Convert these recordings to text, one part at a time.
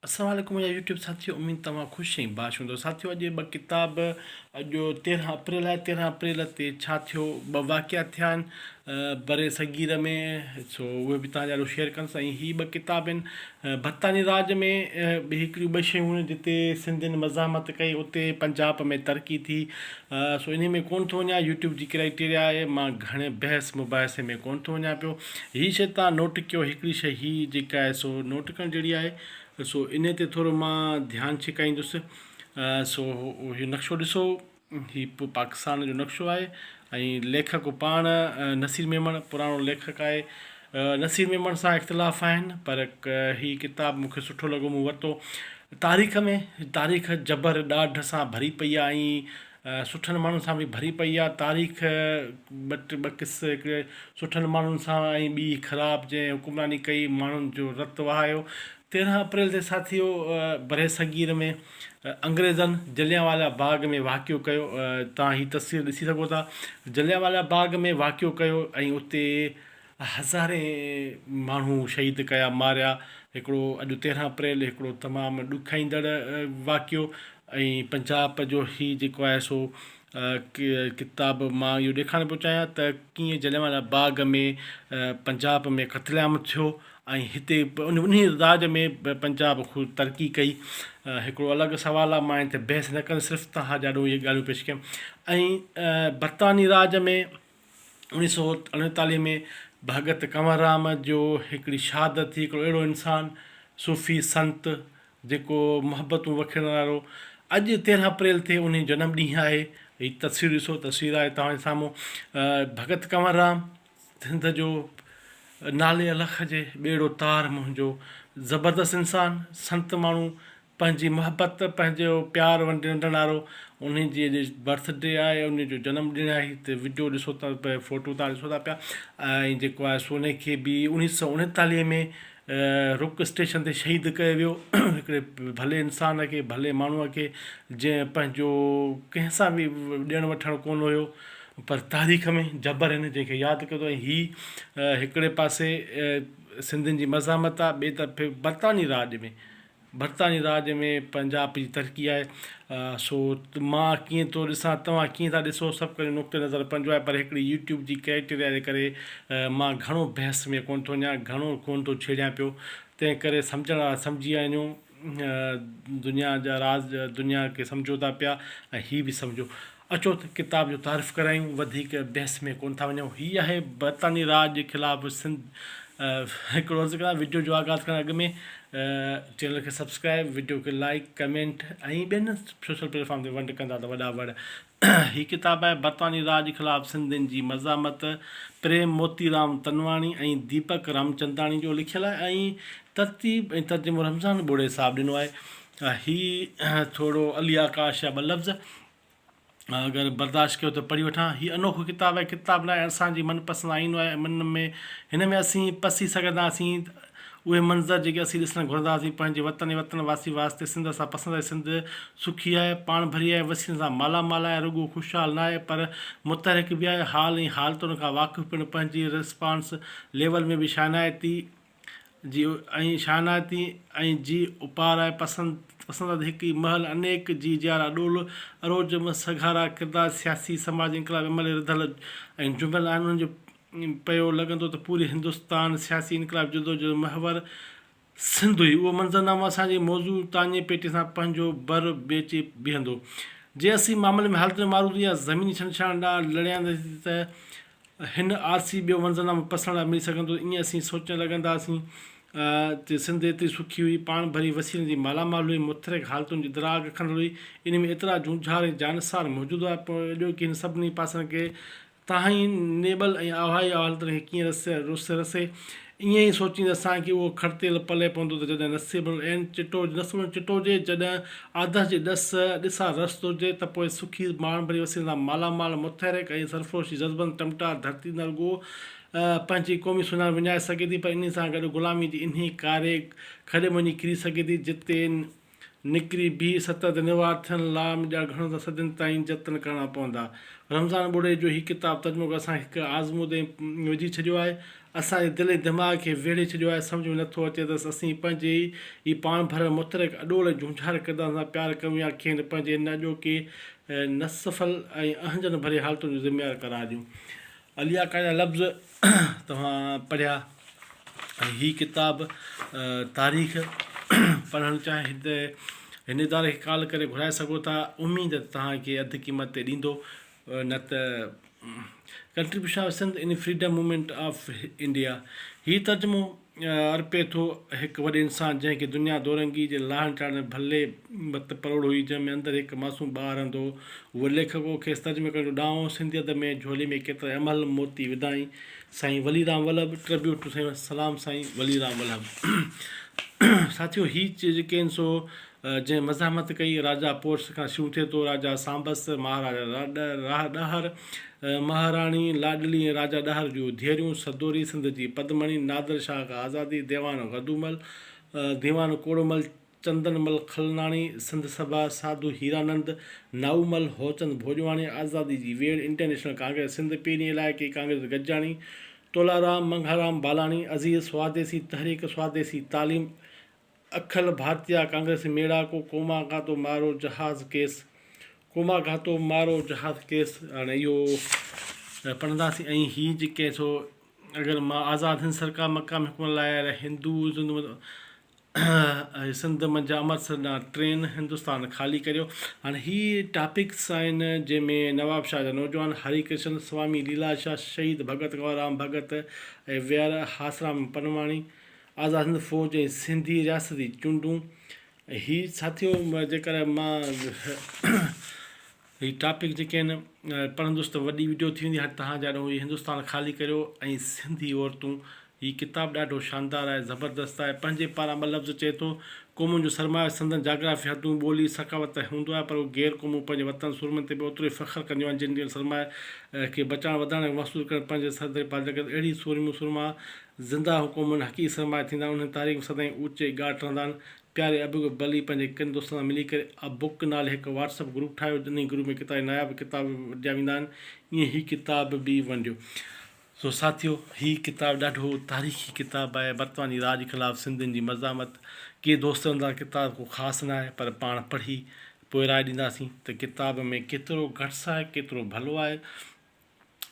السلام عليڪم منهنجا يوٽيوب ساٿيو اميد توهان خوش ۽ باش هوندو ساٿيو اڄ ٻه ڪتاب اڄ تيرهن اپريل آهي تيرهن اپريل تي ڇا ٿيو ٻه واقعا ٿيا آهن بر صغير ۾ سو اهي به تهان جا شيئر ڪنس ۽ هي ٻه ڪتاب آهن بھتاني راج ۾ به هڪڙيون ٻه شيون هيون جتي سنڌين مزاحمت ڪئي اتي پنجاب ۾ ترقي ٿي سو انهي ۾ ڪون ٿو وڃان يوٽيوب جي ڪرائٽيريا آهي مان گهڻي بحث مباحثي ۾ ڪون ٿو وڃان پيو هي شيء تان نوٽ ڪيو هڪڙي شيء هي جيڪا آهي سو نوٽ ڪرڻ جهڙي آهي سو انهي تي ٿورو مان ڌيان ڇڪائيندس سو هي نقشو ڏسو هي پاڪستان جو نقشو آهي ۽ ليکڪ پاڻ نصير ميمڻ پراڻو ليکڪ آهي نصير ميمڻ سان اختلاف آهن پر هي ڪتاب مون کي سٺو لڳو مون ورتو تاريخ ۾ تاريخ جبر ڏاڍ سان ڀري پئي آهي ۽ سٺن ماڻهن سان به ڀري پئي آ تاريخ ٻٽ ٻه قصه هڪڙي سٺن ماڻهن سان ۽ ٻي خراب جنهن حڪمراني ڪئي ماڻهن جو رت وهايو تيرنهن اپريل تي ساٿيو بري صغير ۾ انگريزن جليان والا باغ ۾ واقعو ڪيو تان هي تصوير ڏسي سگهو ٿا جليان والا باغ ۾ واقعو ڪيو ۽ اتي هزارين ماڻهو شهيد ڪيا ماريا هڪڙو اڄ تيرهن اپريل هڪڙو تمام ڏکائيندڙ واقعو ۽ پنجاب جو هي جيڪو آهي سو ڪتاب مان اهو ڏيکارڻ پيو چاهيان ته ڪيئن جليان والا باغ ۾ پنجاب ۾ قتل عام ٿيو ۽ هتي انهي راڄ ۾ پنجاب خوب ترقي ڪئي هڪڙو الڳ سوال آهي مان هتي بحث نه ڪندس صرف توهان جي آڏو اهي ڳالهيون پيش ڪيم ۽ برطاني راڄ ۾ اوڻيهه سؤ اڻيتاليهه ۾ ڀڳت ڪنور رام جو هڪڙي شهادت ٿي، هڪڙو اهڙو انسان، صوفي، سنت جيڪو محبتون وکيڙڻ وارو اڄ تيرنهن اپريل تي انهي جنم ڏينهن آهي، هي تصوير ڏسو تصوير آهي توهان جي سامهون ڀڳت ڪنور رام سنڌ جو نالي الخ هجي ٻيڙو تار منهنجو زبردست انسان سنت ماڻهو. پنهنجي محبت پنهنجو پيار ونڊڻ وارو انهي جي اڄ برٿ ڊي آهي انهي جو جنم ڏينهن آهي هتي وڊيو ڏسو ٿا پيا فوٽو تان ڏسو ٿا پيا ۽ جيڪو آهي سو انهي کي به انيس سئو اڻيتاليهه ۾ رڪ اسٽيشن تي شهيد ڪيو ويو هڪڙي ڀلي انسان کي ڀلي ماڻهو کي جنهن پنهنجو ڪنهن سان به ڏيڻ وٺڻ ڪون هيو پر تاريخ ۾ جبر هن جنهن کي ياد ڪيو ۽ هي هڪڙي پاسي سنڌين جي مزاحمت آهي ٻي طرف برطاني راڄ ۾ برطانوي راڄ ۾ پنجاب جي ترقي آهي سو مان ڪيئن ٿو ڏسان توهان ڪيئن ٿا ڏسو سڀ ڪجهه نقطه نظر پنهنجو آهي پر هڪڙي يوٽيوب جي ڪرائيٽيريا جي ڪري مان گهڻو بحث ۾ ڪونه ٿو وڃان گهڻو ڪونه ٿو ڇيڙيان پيو تنهن ڪري سمجهڻ وارا سمجهي وڃو دنيا جا راز دنيا کي سمجهو ٿا پيا ۽ هي به سمجهو اچو ته ڪتاب جو تعارف ڪرايون، وڌيڪ بحث ۾ ڪونه ٿا وڃون. هي آهي برطانوي راڄ جي خلاف سنڌ هڪڙو عرض ڪران وڊيو جو آغاز ڪرڻ اڳ ۾ چينل کي سبسڪرائب وڊيو کي لائيڪ ڪمينٽ ۽ ٻين سوشل پليٽ فارم تي ونڊ ڪندا ته وڏا وڙ هي ڪتاب آهي برطانوي راڄ خلاف سنڌين جي مزاحمت پريم موتي رام تنواڻي ۽ ديپڪ رامچنداڻي جو لکيل آهي ۽ ترتيب ۽ ترجمو رمضان ٻوڙي صاحب ڏنو آهي هي ٿورو علي آڪاش جا ٻه لفظ. اگر برداشت ڪيو ته پڙهي وٺان. هي انوکو ڪتاب آهي، ڪتاب ناهي اسان جي من پسند آئينو آهي ۽ ان ۾ هن ۾ اسين پسي سگهنداسين اهي منظر جيڪي اسين ڏسڻ گهرنداسين پنهنجي وطن ۽ وطن واسين واسطي سنڌ اسان پسند آهي سنڌ سکي آهي، پاڻ ڀري آهي، وسيلن سان مالا مال آهي رڳو خوشحال ناهي پر متحرڪ به آهي حال ۽ حالتن کان واقف پڻ پنهنجي ريسپانس ليول ۾ به شانائتي جي ۽ شاهناتي ۽ جي اوپارائي پسندد هڪ ئي مهل انيڪ جي جيارا ڏول اروجم سگهارا ڪردار سياسي سماجي انقلابي عمل رڌل ۽ جنبيل آهن انهن جو پيو لڳندو ته پوري هندستان سياسي انقلابي جدوجهد محور سنڌ هئي اهو منظر نامو اسان جي موضوع تاڃي پيٽي سان پنهنجو بر ويچي بيهندو جي اسين معاملي ۾ حالتن معروضي يا زميني ڇنڊڇاڻ ڏانهن لڙينداسين ته هن آر سي ٻيو منظرنامو پسڻ لاء ملي سگهندو ائين اسين سوچڻ لڳنداسين ته سنڌ ايتري سکي هئي، پاڻ ڀري وسيلن جي مالا مال هئي، متحرڪ حالتن جي دراڳ کنڊل هئي، انهي ۾ ايترا جونجهار ۽ جانثار موجود هئا، پوء اڄوڪي هن سڀني پاسن کي تهائين نيبل ۽ آهوائي حالتن کي ڪيئن رسي، ائين ئي سوچيندي اسان کي اهو کڙتيل پلئه پوندو ته جڏهن نصيب العين چٽو نصيب العين چٽو هجي، جڏهن آڌس جي ڏس، ڏسا رست، هجي ته پوء سکي ماڻ ڀري وسيلن سان مالا مال، متحرڪ ۽ سرفروش جذبن ٽمٽار ڌرتي نه رڳو پنهنجي قومي سڃاڻپ وڃائي سگهي ٿي پر انهي سان گڏ غلامي جي انهي ڪاري کڏي ۾ وڃي ڪري سگهي ٿي جتي نڪري بيهي ستت ۽ نوار ٿيڻ لا مجا گهڻو ته صدين تائين جتن ڪرڻا پوندا. رمضان ٻوڙي جو هي ڪتاب ترجمو ڪري اسان کي هڪ آزمودي ۾ وجهي ڇڏيو آهي. اسان جي دل ۽ دماغ کي ويڙهي ڇڏيو آهي. سمجهه ۾ نه ٿو اچي ته اسين پنهنجي ئي پاڻ ڀريل متحرڪ اڏول ۽ جهونجهار ڪردارن سان پيار ڪريون يا کين پنهنجي هن اڄوڪي نسفل ۽ اهنجن ڀري حالتن جو ذميوار قرار ڏيون. عليا کان جا لفظ توهان پڙهيا ۽ هي ڪتاب تاريخ پڙهڻ چاهي ته هن اداري کي ڪال ڪري گهرائي سگهو ٿا اميد ته توهان کي اڌ قيمت تي ڏيندو نه ته contribution of Sindh in freedom movement of India هي ترجمو ارپي ٿو هڪ وڏي انسان جنهن کي دنيا دورنگي جي لاهن چاڙهن ۾ ڀلي ڀت پروڙ هئي جنهن ۾ اندر هڪ معصوم ٻار رهندو هو هو ليکڪ هو کيس ترجمي ڪرڻ جو ڏانء هو سنڌي ادب ۾ جهولي ۾ ڪيترائي امهل موتي وڌائين سائين ولي رام ولڀ Tribute to سائين سلام سائين ولي رام ولڀ ساٿيو هي جيڪي آهن سو جنهن مزاحمت ڪئي، راجا پورس کان شروع ٿئي ٿو، راجا سانبس، مهاراجا راهه ڏهر، مهاراڻي لاڏلي ۽ راجا ڏهر جون ڌيئريون، سدوري، سنڌ جي پدمڻي، نادر شاهه کان آزادي، ديوان غدومل، ديوان ڪوڙومل، چندن مل کلناڻي، سنڌ سڀا، ساڌو هيرانند، نائومل، هوچند ڀوڄواڻي، آزادي جي ويڙهه، انٽرنيشنل ڪانگريس سنڌ، پيرين علائقي ڪانگريس گجاڻي، تولارام، منگهارام بالاڻي، عزيز سواديسي، تحريڪ سواديسي تعليم، اکل ڀارتيه ڪانگريس ميڙا ڪو ڪوماگاتو مارو جهاز ڪيس ڪوماگاتو مارو جهاز ڪيس هاڻي اهو پڙهنداسين ۽ هي جيڪي سو اگر مان آزاد هند سرڪار مقام حڪمران لاء اهي هندو سنڌ منجهه امرتسر ڏانهن ٽرين هندستان خالي ڪريو هاڻي هي ٽاپڪس آهن جنهن ۾ نواب شاهه جا نوجوان هري ڪرشن سوامي ليلاشا شهيد ڀڳت ڪنورام ڀڳت ۽ وير هاسرام پنواڻي آزاد هند فوج ۽ سنڌي رياستي چونڊون هي ساٿيو جيڪر مان هي ٽاپڪ جيڪي آهن پڙهندس ته وڏي وڊيو ٿي ويندي هاڻي توهان جا هي هندستان خالي ڪريو ۽ سنڌي عورتون هي ڪتاب ڏاڍو شاندار آهي زبردست آهي پنهنجي پاران ٻه لفظ چئي ٿو قومن جو سرمايو سندن جاگرافي حدون ٻولي ثقافت ته هوندو آهي پر اهي غير قومون پنهنجي وطن سورمن تي به اوترو ئي فخر ڪنديون آهن جن جن سرمايه کي بچائڻ وڌائڻ ۽ محصول ڪرڻ پنهنجي سر تي پاڌل ڪن اهڙي سورميون سورما زنده حڪومن حقيقي سرمايه ٿيندا آهن انهن تاريخ ۾ سدائين اوچي ڳاٽ رهندا آهن پياري ابڪ بلي پنهنجي ڪن دوستن سان ملي ڪري ابڪ نالي هڪ واٽس اپ گروپ ٺاهيو انهي گروپ ۾ ڪيترائي ناياب ڪتاب به ونڊيا ويندا آهن ائين هي ڪتاب به ونڊيو سو ساٿيو هي ڪتاب ڏاڍو تاريخي ڪتاب آهي برطانوي راڄ خلاف سنڌين جي مزاحمت ڪي دوست چون ٿا ڪتاب ڪو خاص نه آهي پر پاڻ پڙهي پوء راء ڏينداسين ته ڪتاب ۾ ڪيترو گٽس آهي ڪيترو ڀلو آهي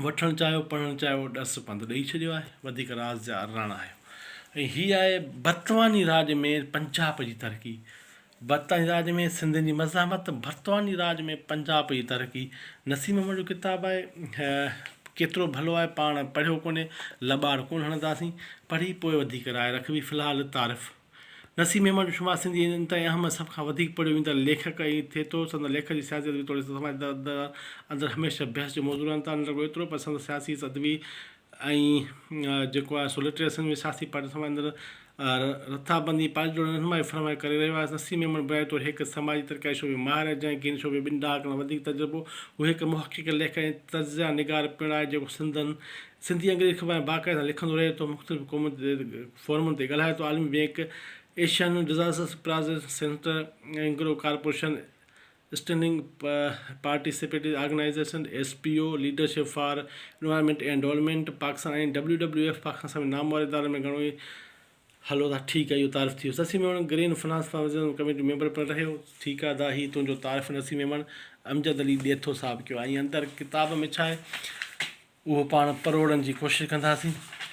وٺڻ چاهيو پڙهڻ چاهيو ڏس پنڌ ڏئي ڇڏيو آهي وڌيڪ راز جا راڻا آهيو ۽ هي آهي برطاني راڄ ۾ پنجاب جي ترقي برطاني راڄ ۾ سنڌين جي مزاحمت برطاني راڄ ۾ پنجاب جي ترقي نسيم احمد جو ڪتاب آهي ڪيترو ڀلو آهي پاڻ پڙهيو ڪونهي لٻاڙ ڪونه هڻنداسين پڙهي پوء وڌيڪ راء رکبي في الحال تعارف نسيم ميمڻ جو شمار سنڌيء جي انتھائي اھم ۽ سڀ کان وڌيڪ پڙھيو ويندڙ ليکڪ ۽ ٿئي ٿو. سندس ليکن جي سياسي ادبي توڙي سماجي دادن اندر ھميشه بحث جو موضوع رھن ٿا. نه رڳو ايترو پر سندس سياسي ادبي ۽ جيڪو آھي سو لٽريري سنڌ ۾ سياسي پارٽين سماج اندر رٿابندي ۽ پارٽي جوڙڻ رھنمائي فراھم ڪري رھيو آھي. نسيم ميمڻ بنيادي طور ھڪ سماجي ترقياتي شعبي ۾ ماھر آھي جنھن کي ھن شعبي ۾ ٻن ڏھاڪن کان وڌيڪ تجربو. ھو ھڪ محقق، ليکڪ ۽ تجزيا نگار پڻ آھي جيڪو سنڌين سنڌي ۽ انگريزي اخبارن ۾ باقاعدي سان لکندو رھي ٿو. مختلف قومن جي فورمن تي ڳالهايو ته عالمي bank, Asian disaster preparedness center, Engro corporation, standing participatory organization, S P O, leadership for environment and development Pakistan ۽ W W F Pakistan سميت نامور ادارن ۾ گهڻو ئي هلو ٿا ٺيڪ آهي اهو تعارف ٿي ويو Sassi Memon green finance for وزيراعظم ڪميٽي ميمبر پڻ رهيو ٺيڪ آهي دا هي تنهنجو تعارف نسي ميمڻ امجد علي ڏيٿو صاحب ڪيو ۽ اندر ڪتاب ۾ ڇا آهي اهو پاڻ پروڙڻ جي ڪوشش ڪنداسين.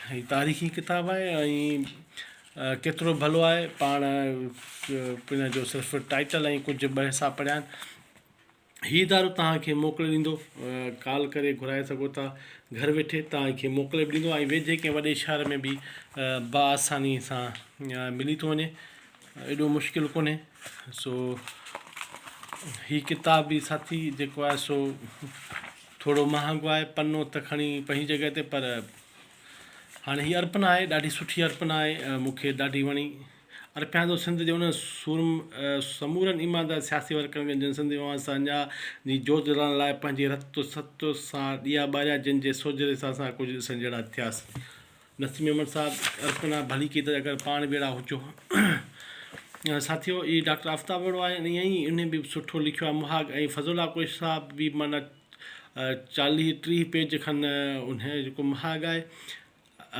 هي تاريخي ڪتاب آهي ۽ ڪيترو ڀلو آهي پاڻ ان جو صرف ٽائيٽل ۽ ڪجهه ٻه حصا پڙهيا آهن. هي ادارو توهان کي موڪلي ڏيندو، ڪال ڪري گهرائي سگهو ٿا، گهر ويٺي توهان کي موڪلي به ڏيندو ۽ ويجهي ڪنهن وڏي شهر ۾ به بآساني سان ملي ٿو وڃي، ايڏو مشڪل ڪونهي. سو هي ڪتاب به ساٿي جيڪو آهي سو ٿورو مهانگو آهي پنو ته کڻي پنهنجي جڳهه تي پر هاڻي هي ارپنا آهي ڏاڍي سٺي ارپنا آهي مون کي ڏاڍي وڻي ارپيان ٿو سنڌ جي انهن سورم سمورن ايماندار سياسي ورڪرن کي جن سنڌ اوهان سان اڃا جي جوت جلائڻ لاء پنهنجي رت ست سان ڏيئا ٻاريا جن جي سوجهري سان اسان ڪجهه ڏسڻ جهڙا ٿياسين نسيم احمد صاحب ارپنا ڀليڪي ته اگر پاڻ به اهڙا هجو ها. ساٿيو هي ڊاڪٽر آفتاب اهڙو آهي ۽ ائين ئي انهي به سٺو لکيو آهي مهاڳ ۽ فضل الله ڪوشش صاحب به معنيٰ چاليهه ٽيهه پيج کن انهي جو جيڪو مهاڳ آهي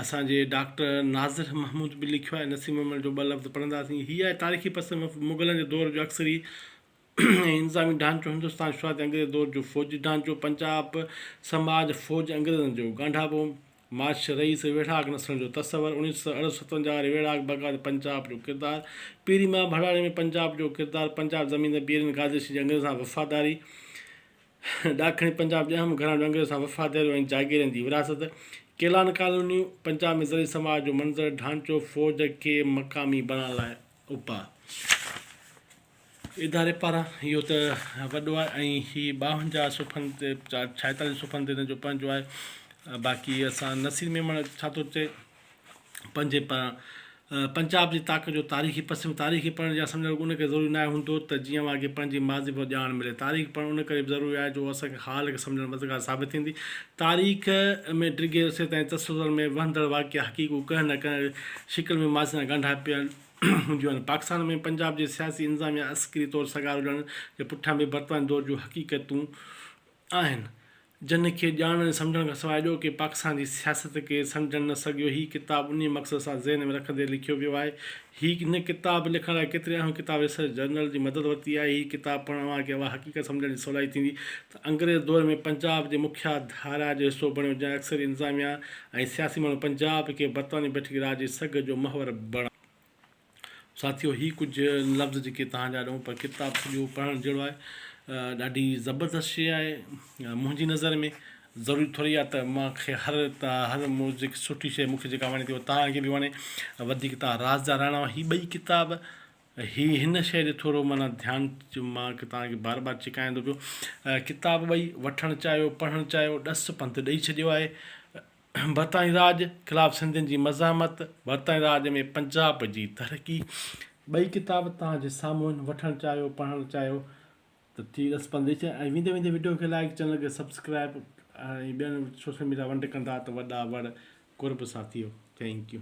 اسان جي ڊاڪٽر ناظر محمود به لکيو آهي نسيم احمد جو ٻه لفظ پڙهنداسين هي آهي تاريخي پس منظر مغلن جي دور جو اڪثر ئي ۽ انتظامي ڍانچو هندستان شروعاتي انگريز دور جو فوجي ڍانچو پنجاب سماج فوج انگريزن جو ڳانڍاپو مارش رئيس ويڙهاڪ نسلن جو تصور اڻيهه سؤ اڻ ستونجاهه واري ويڙهاڪ بغاوت پنجاب جو ڪردار پيري مان ڀڙاڙي ۾ پنجاب جو ڪردار پنجاب زميندار پيرين گادرشي جي انگريزن سان وفاداري ڏاکڻي پنجاب جي اهم گهراڻن جو انگريزن سان وفاداريون ۽ جاگيرين جي وراثت ڪيلان ڪالونيون پنجاب ۾ زرعي سماج جو منظر ڍانچو فوج کي مقامي بڻائڻ لاء اپاء اداري پاران اهو ته وڏو آهي ۽ هي ٻاونجاهه صفحن تي ڇائيتاليهه صفحن تي هن جو پنهنجو آهي باقي اسان نصير ميمڻ ڇا ٿو چئي پنهنجي پاران پنجاب جي تاڪ جو تاريخي پسم تاريخ پڙهڻ يا سمجهڻ ان ڪري ضروري ناهي هوندو ته جيئن اوهان کي پنهنجي ماضي بابت ڄاڻ ملي تاريخ پڙهڻ ان ڪري به ضروري آهي جو اسان کي حال کي سمجهڻ ۾ مددگار ثابت ٿيندي تاريخ ۾ ڊگهي عرصي تائين تسلسل ۾ وهندڙ واقعا حقيقون ڪنهن نه ڪنهن شڪل ۾ ماضي سان ڳانڍاپيل هونديون آهن. پاڪستان ۾ پنجاب جي سياسي انظاميا عسڪري طور سگهار هجڻ جي پٺيان به برطانوي دور جون حقيقتون آهن، جن کي ڄاڻڻ ۽ سمجهڻ کان سواء اڄوڪي پاڪستان جي سياست کي سمجهڻ نه سگهيو. هي ڪتاب انهي مقصد سان ذهن ۾ رکندي لکيو ويو آهي. هي هن ڪتاب لکڻ لاء ڪيترين اهم ڪتاب ريسرچ جرنل جي مدد ورتي آهي. هي ڪتاب پڙهڻ اوهان کي اها حقيقت سمجهڻ جي سولائي ٿيندي ته. انگريز دور ۾ پنجاب جي مکيا ڌارا جو حصو بڻيو جنهن اڪثريت انتظاميا ۽ سياسي ماڻهو پنجاب کي برطانوي بيٺڪي راڄ جي سگهه جو محور بڻايو. ساٿيو هي ڪجهه لفظ جيڪي توهان جا ڏئون پر ڪتاب سڄو پڙهڻ جهڙو آهي ڏاڍي زبردست شيء آهي منهنجي نظر ۾ ضروري ٿوري آهي ته مان کي هر هر جيڪي سٺي شيء مون کي جيڪا وڻي ٿي اها توهان کي به وڻي وڌيڪ توهان راز جا راڻا آهيو هي ٻئي ڪتاب هي هن شيء ڏي ٿورو معنيٰ ڌيان مان توهان کي بار بار چڪائيان ٿو پيو. ڪتاب ٻئي وٺڻ چاهيو، پڙهڻ چاهيو، ڏس پنڌ ڏئي ڇڏيو آهي. برطانوي راڄ خلاف سنڌين جي مزاحمت، برطانوي راڄ ۾ پنجاب جي ترقي، ٻئي ڪتاب توهان جي سامهون آهن، وٺڻ چاهيو، پڙهڻ چاهيو ته ٺيڪ ڏس پنڌ ڏئي ڇڏيو ۽ ويندي ويندي وڊيو کي لائيڪ، چينل کي سبسڪرائيب ۽ ٻين سوشل ميڊيا ونڊ ڪندا ته وڏا وڙ قرب سان ٿيو. Thank U.